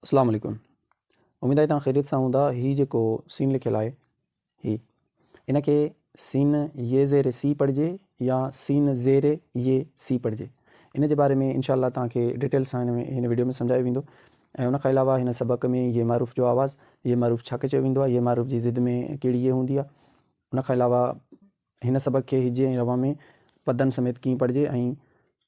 اسلام عليڪم اميد آهي توهان خيريت سان هوندا هي جيڪو سين لکيل آهي هي ان کي سين يي زير سي پڙهجي يا سين زير يي سي پڙهجي ان جي باري ۾ انشاء الله توهان کي ڊيٽيل سان هن ۾ هن ويڊيو ۾ سمجهايو ويندو ۽ ان کان علاوه هن سبق ۾ يي معروف جو آواز يي معروف ڇا کي چيو ويندو آهي يي معروف جي ضد ۾ ڪهڙي يي هوندي آهي ان کان علاوه هن سبق کي هجي ۽ روان ۾ پدن سميت ڪيئن پڙهجي ۽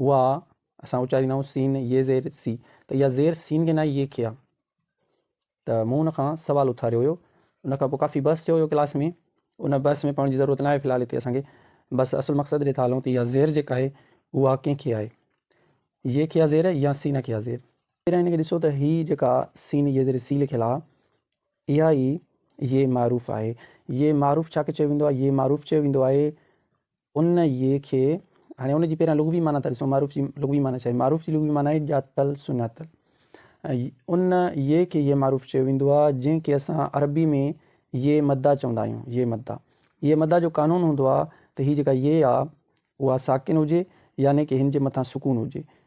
اها اسان اچاريندا آهيون سين يي زير سي ته اها زير سين کي ناهي يي کي آهي ته مون ان کان سوال اٿاريو هيو ان کان پوء ڪافي بحث ٿيو هيو ڪلاس ۾ ان بحث ۾ پوڻ جي ضرورت ناهي في الحال هتي اسان کي بس اصل مقصد ڏي ٿا هلون ته اها زير جيڪا آهي اها ڪنهن کي آهي يي کي آهي زير يا سين کي آهي زير ٻير ان کي ڏسو ته هي جيڪا سين يي زير سي لکيل آهي اها ئي يي معروف آهي. يي معروف ڇا کي چيو ويندو آهي؟ يي معروف چيو ويندو آهي ان يي کي، هاڻي ان جي پهريان لغوي معنيٰ ٿا ڏسون، معروف جي لغوي معنيٰ ڇا آهي؟ معروف جي لغوي معنيٰ آهي ڄاتل سڃاتل. ان يي کي يي معروف چيو ويندو آهي جنهن کي اسان عربي ۾ يي مدا چوندا آهيون، يي مدا. يي مدا جو قانون هوندو آهي ته هي جيڪا يي آهي اها ساڪن هجي يعني ڪه هن جي مٿان سڪون هجي.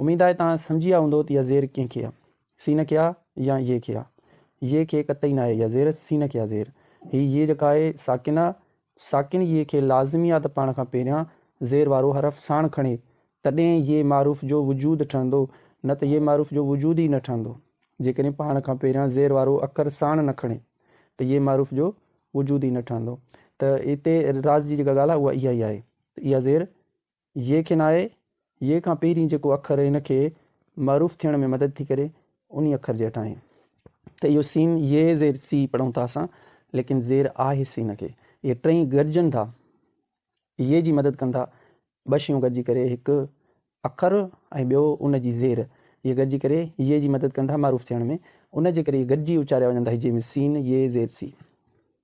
اميد آهي توهان سمجهي ويا هوندو ته اها زير ڪنهن کي آهي، سين کي آهي يا يي کي آهي. يي کي قطعي ناهي اها زير، سين کي آهي زير. هي يي جيڪا آهي ساڪن آهي، ساڪن يي کي لازمي آهي ته پاڻ کان پهريان زير وارو حرف ساڻ کڻي، تڏهن يي معروف جو وجود ٺهندو، نه ته يي معروف جو وجود ئي نه ٺهندو. جيڪڏهن پاڻ کان پهريان زير وارو اکر ساڻ نه کڻي ته يي معروف جو وجود ئي نه ٺهندو. ته هتي راز جي جيڪا ڳالهه آهي اها اها ئي آهي ته اها زير ي کي ناهي، ي کان پهرين جيڪو اکر هن کي معروف ٿيڻ ۾ مدد ٿي ڪري، انهي اکر جي هيٺاهين ته اهو سين ي زير سي پڙهون ٿا اسان، ليڪن زير آهي سين کي. اهي ٽئي گڏجن ٿا، ي جي مدد ڪن ٿا. ٻه شيون گڏجي ڪري، هڪ اکر ۽ ٻيو ان جي زير، اهي گڏجي ڪري ي جي مدد ڪن ٿا معروف ٿيڻ ۾. ان جي ڪري اهي گڏجي اچاريا وڃن ٿا هجي ۾ سين ي زير سي.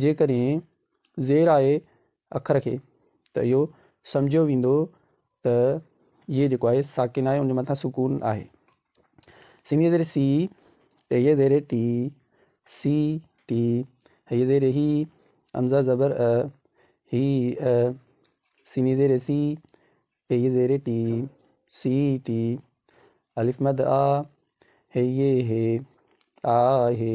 جي ڪرين زير آهي اکر کي ته اهو سمجهيو ويندو ته يي جيڪو آهي ساڪن آهي ان جي مٿان سڪون آهي. سنڌيء زير سي، ۽ هيء زير ٽي، سي ٽي، هيء زير هي، همزه زبر ء، هي ء، سيني زير سي، ۽ هيء زير ٽي، سي ٽي، الف مد آ، هيء هي، آ هي،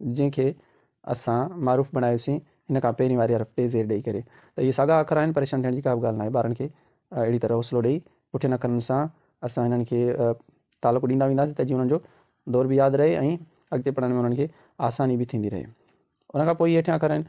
جنهن کي اسان معروف بڻايوسين هن کان پهرين واري حرف تي زير ڏئي ڪري ته اهي ساڳا اکر آهن پريشان ٿيڻ جي ڪابه ڳالهه ناهي ٻارن کي اهڙي طرح حوصلو ڏئي پٺين اکرن سان اسان هنن کي تعلق ڏيندا وينداسين ته جيئن انهن جو دور به ياد رهي ۽ اڳتي پڙهڻ ۾ انهن کي آساني به ٿيندي رهي ان کان پوء هيٺيان اکر آهن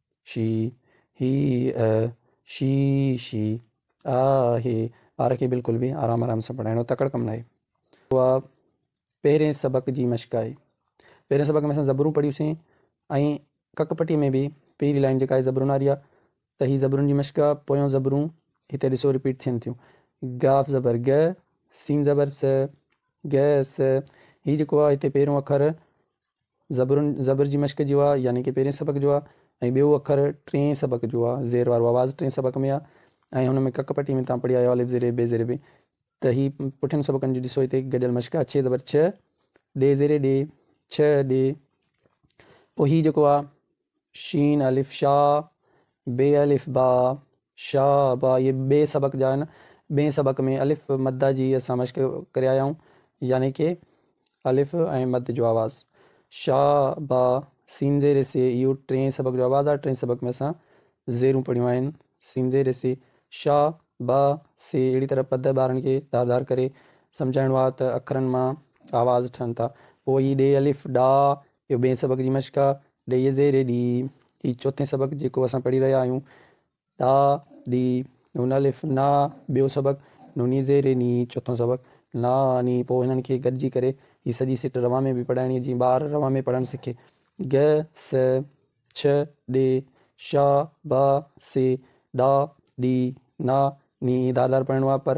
شي، هي ا، شي، شي، آ، هي، ٻار کي بلڪل به آرام آرام سان پڙهائڻو تڪڙ ڪم ناهي. اها پهرين سبق جي مشق آهي. پهرين سبق ۾ اسان زبرون پڙهيوسين ۽ ڪڪ پٽي ۾ به پهرين لائن جيڪا آهي زبرون واري آهي ته هي زبرون جي مشق آهي پويون زبرون هتي ڏسو رپيٽ ٿين ٿيون، ڳاف زبر ڳ، سين زبر س، گئس، هي جيڪو آ هتي پهريون اکر زبرن زبر جي مشق جو آ يعني ڪي پهرين سبق جو آ ۽ ٻيو اکر ٽئين سبق جو آ زير وارو آواز ٽئين سبق ۾ آ ۽ هن ۾ ڪڪ پٽي ۾ تان پڙهي آيو الف زير اي بي زير بي ته هي پٺين سبقن جو ڏسو هتي گڏيل مشق آ چھ زبر چھ ڏي زير ڏي چھ ڏي پوء هي جيڪو آ شين الف شا بي الف با شا با اهي ٻئي سبق جا آهن ٻئي سبق ۾ الف مد جي اسان مشق ڪريايائون يعني ڪي الف ۽ مد جو آواز شا با سين زير سي اهو ٽين سبق جو آواز آهي ٽين سبق ۾ اسان زيرون پڙهيون آهن سين زير سي شا با سي اهڙي طرح پد ٻارن کي ڌار ڌار ڪري سمجهائڻو آهي ته اکرن مان آواز ٺهن ٿا پوء هي ڏي الف ڏا اهو ٻئي سبق جي مشق آهي ڏي زير ڏي هي چوٿين سبق جيڪو اسان پڙهي رهيا آهيون تا دي نون الف نا ٻيو سبق نوني زير ني چوٿون سبق نا ني پوء هنن کي گڏجي ڪري هي سڄي سٽ روان ۾ به پڙهائڻي جيئن ٻار روان ۾ پڙهڻ سکي گ س چھ ڏي شا با سي ڏا ڏي نا ني دار دار پڙهڻو آهي پر